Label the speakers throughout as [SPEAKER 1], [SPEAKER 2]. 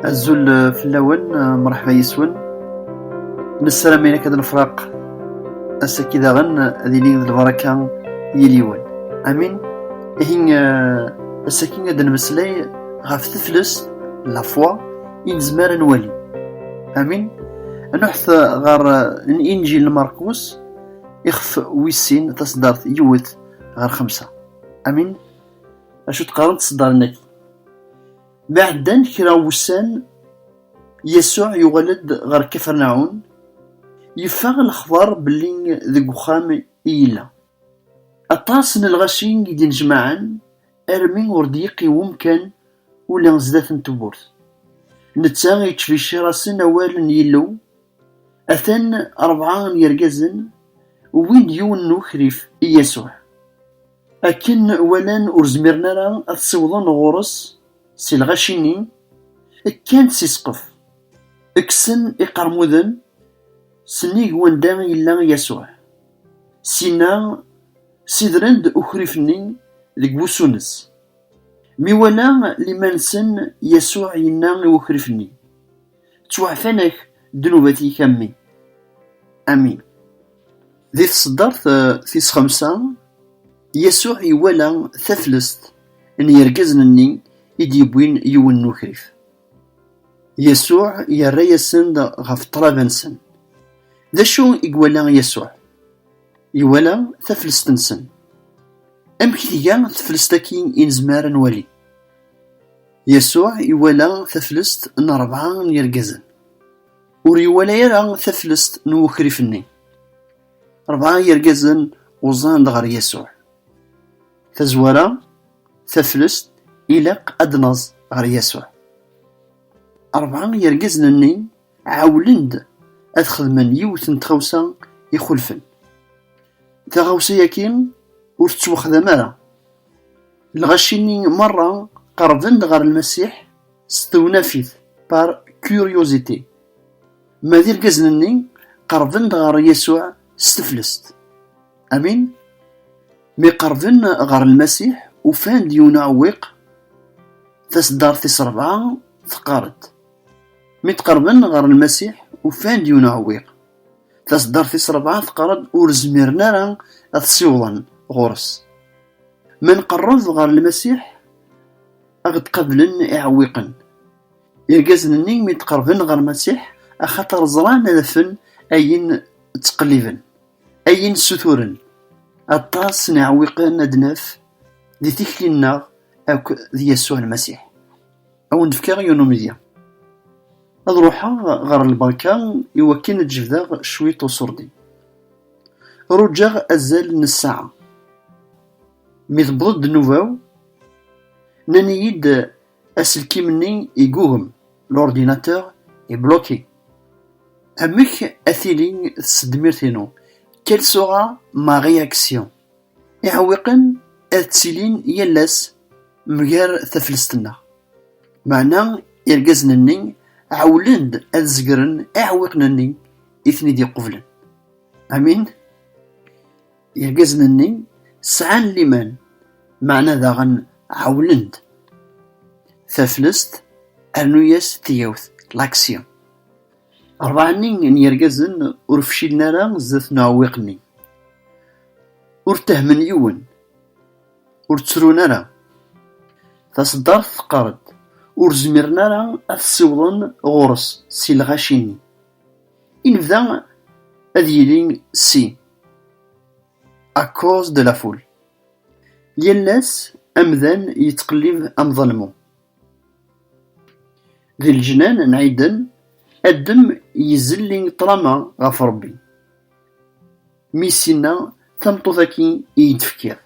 [SPEAKER 1] azul eh, fell-awen eh, mṛeḥba yes-wen nessaram ayen akka d nefraq ass-agi daɣen eh, ad ilin d lbaraka yal yiwen amin ihi ass-agi ad nmeslay ɣef teflest la foi i nezmer ad nwali amin nuḥet ɣer injil markus ixef wis sin taṣeddart yiwet ɣer xemsa amin acu d-qqaren tseddarnat. Mi ɛeddan kra n wussan, Yasuɛ yuɣal-d ɣer Kafernaɛun, yeffeɣ lexbar belli deg uxxam i yella. Aṭas n lɣaci i d-innejmaɛen armi ur d-yeqqiwem kan ula sdat n tewwurt. Netta yettbecciṛ-asen awal n Yillu, Atan rebɛa n yergazen wwin-d yiwen n ukrif i Yasuɛ. Akken walan ur zmiren ara ad ssiwḍen ɣur-s si lɣaci-nni, kkan-d si ssqef, kksen iqermuden s nnig wanda i yella Yasuɛ. Syin-a, ssidren-d ukrif-nni deg wusu-nnes. Mi wala liman-nsen, Yasuɛ yenna i ukrif-nni, ttwaɛfan-ak ddnubat-ik a mmi. Amin. Di tseddart tis xemsa, Yasuɛ iwala taflest n yergazen-nni i d-yewwin yiwen n ukrif. Yasuɛ yerra-yasen-d ɣef ṭṭlaba-nsen. D acu i iwala Yasuɛ? Iwala taflest-nsen. Amek tga teflest-agi i nezmer ad nwali? Yasuɛ iwala taflest n rebɛa n yirgazen. Ur iwala ara taflest n wukrif-nni. Rebɛa n yirgazen uẓan-d ɣer Yasuɛ. Tazwara, taflest ilaq ad d-naẓ ɣer Yasuɛ. Rebɛa n yirgazen-nni ɛewwlen-d ad xedmen yiwet n tɣawsa ixulfen. Taɣawsa-yaki ur tettwaxdam ara. Lɣaci-nni merra qerben-d ɣer Lmasiḥ s tewnafit, par curiosité, ma d irgazen-nni qerben-d ɣer Yasuɛ s teflest. Amin? Mi qerben ɣer Lmasiḥ, ufan-d yiwen uɛewwiq, taseddart tis rebɛa teqqar-d, Mi d-qerben ɣer Lmasiḥ, ufan-d yiwen uɛewwiq. Taseddart tis rebɛa teqqar-d ur zmiren ara ad t-ssiwḍen ɣur-s. Ma nqerreb ɣer Lmasiḥ, ad ɣ-d-qablen iɛewwiqen. Irgazen-nni mi d-qerben ɣer Lmasiḥ, axaṭer ẓran ad afen ayen ttqelliben, ayen ssuturen. Aṭas n iɛewwiqen ad d-naf di tikli-nneɣ akk d Yasuɛ Lmasiḥ. Ad wen-d-fkeɣ yiwen umedya. Ad ruḥeɣ ɣer lbanka i wakken ad jebdeɣ cwiṭ uṣurdi. Rujaɣ azal n ssaɛa. Mi tewweḍ-d nnuba-w, nnan-iyi-d aselkim-nni igugem, l'ordinateur est bloqué. Amek ad tili tsedmirt-inu? Quelle sera ma réaction? Iɛewwiqen ad ttilin yal ass mger taflest-nneɣ, meɛna irgazen-nni ɛewwlen-d ad zegren iɛewwiqen-nni i ten-id-iqublen. Amin? Irgazen-nni sɛan liman, meɛna daɣen ɛewwlen-d. Taflest, rnu-as tigawt, l'action. Rebɛa-nni n yirgazen ur fcilen ara zdat n uɛewwiq-nni. Ur ttahmen yiwen, ur ttrun ara. Taṣeddart teqqar-d, ur zmiren ara ad t-ssiwḍen ɣur-s si lɣaci-nni. I nebda ad yili si, à cause de la foule. Yal ass, amdan yettqellib am ḍelmu. Di leǧnan n Ɛiden, Adem izelli ṭṭrama ɣef Rebbi, mi is-inna, Tameṭṭut-agi i yi-d-tefkiḍ.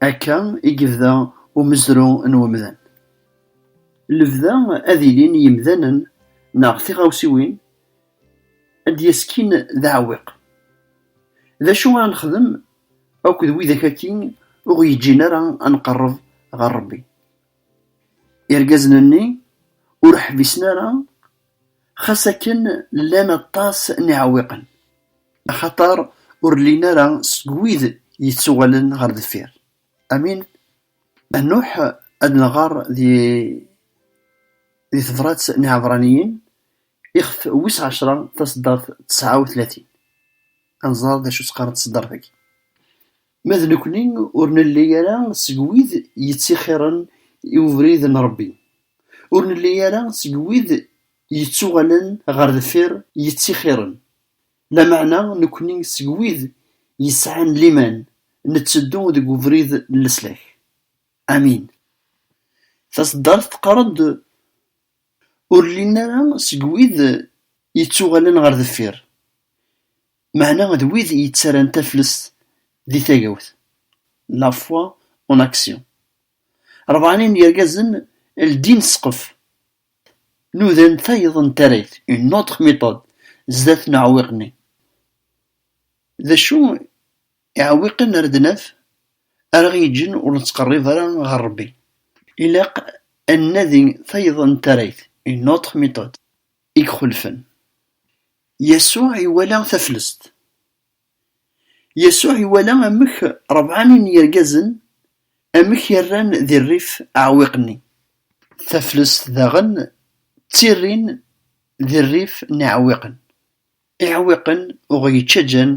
[SPEAKER 1] Akka i yebda umezru n umdan. Lebda ad ilin yimdanen neɣ tiɣawsiwin ad d-yeskin d aɛewwiq. D acu ara nexdem akked widak-agi ur ɣ-yeǧǧin ara ad nqerreb ɣer Rebbi? Irgazen-nni ur ḥbisen ara xas akken llan aṭas n yiɛewwiqen, axaṭer ur llin ara seg wid yettuɣalen ɣer deffir. Amin a Nuḥ, ad nɣer di di tebrat n Iɛebraniyen ixef wis ɛecra taseddart tesɛa u tlatin, ad nẓer d acu tt-qqaren tseddart-agi. Ma d nekkni ur nelli ara seg wid yettixiren i ubrid n Ṛebbi, ur nelli ara seg wid yettuɣalen ɣer deffir yettixiren, lameɛna nekkni seg wid yesɛan liman netteddu deg ubrid n leslak. Amin. Taseddart teqqar-d, Ur llin ara seg wid yettuɣalen ɣer deffir. Meɛna d wid yettarran taflest di tagawt, la foi en action. Rebɛani n yergazen ldin ssqef, nudan tayeḍ n tarrayt, une autre méthode, zdat n uɛewwiq-nni. D acu iɛewwiqen ara d-naf ara ɣ-yeǧǧen ur nettqerrib ara ɣer Rebbi? Ilaq ad nnadi tayeḍ n tarrayt, une autre méthode, i ixulfen. Yasuɛ iwala taflest. Yasuɛ iwala amek rebɛani n yirgazen amek i rran di rrif aɛewwiq-nni. Taflest daɣen ttirrin di rrif n iɛewwiqen. Iɛewwiqen ur ɣ-yettaǧǧan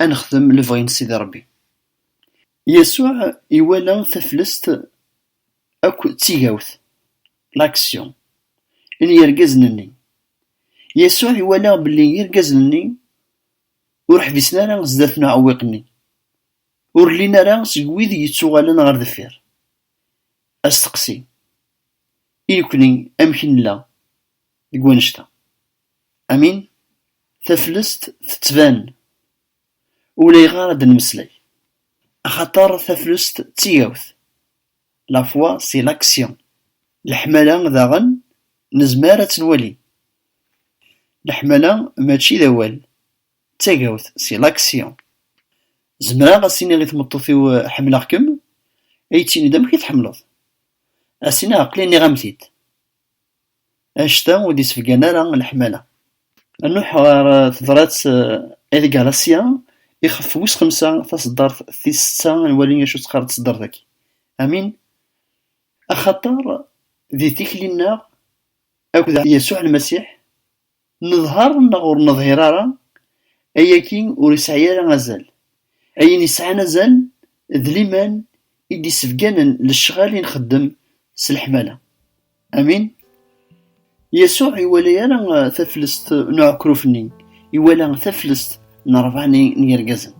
[SPEAKER 1] ad nexdem lebɣi n Sidi Rebbi. Yasuɛ iwala taflest akk d tigawt, l'action, n yirgazen-nni. Yasuɛ iwala belli irgazen-nni ur ḥbisen ara sdat n uɛewwiq-nni, ur llin ara seg wid yettuɣalen ɣer deffir. Asteqsi, I nekkni amek nella deg wannect-a? Amin, Taflest tettban Ulayɣer ad d-nemmeslay, axaṭer taflest d tigawt, la foi c'est l'action, leḥmala daɣen nezmer ad tt-nwali. Leḥmala mačči d awal, d tagawt, c'est l'action. Zemreɣ ad s-iniɣ i tmeṭṭut-iw ḥemmleɣ-kem? Ad iyi-tt-tiniḍ amek i tḥemmleḍ? Ad s-iniɣ aql-i nniɣ-am-t-id. anect-a ur d-yessebgan ara leḥmala. Nruḥ ɣer tebṛat El Galacia, ixef wis xemsa, taṣeddart tis setta, ad nwali acu teqqar tṣeddart-agi. Amin! Axaṭer di tikli-nneɣ akked Yasuɛ Lmasiḥ, Neḍher neɣ ur neḍhir ara, ayagi ur yesɛi ara azal. Ayen yesɛan azal d liman i d-yessebganen lecɣal i nxeddem s leḥmala. Amin. Yasuɛ ur iwala ara taflest n uɛekruf-nni, iwala taflest n rebɛa n yirgazen.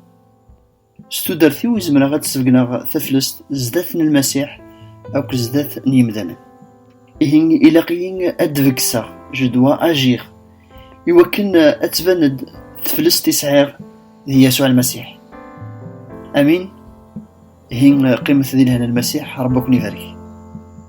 [SPEAKER 1] S tudert-iw i zemreɣ ad d-sbegneɣ taflest zdat n Lmasiḥ akk zdat n yimdanen. Ihi ilaq-iyi ad d-begseɣ, je dois agir, i wakken ad tban-d teflest i sɛiɣ d Yasuɛ Lmasiḥ. Amin. Ihi qqimet di lehna n Lmasiḥ, Rebbi ad ken-ibarek.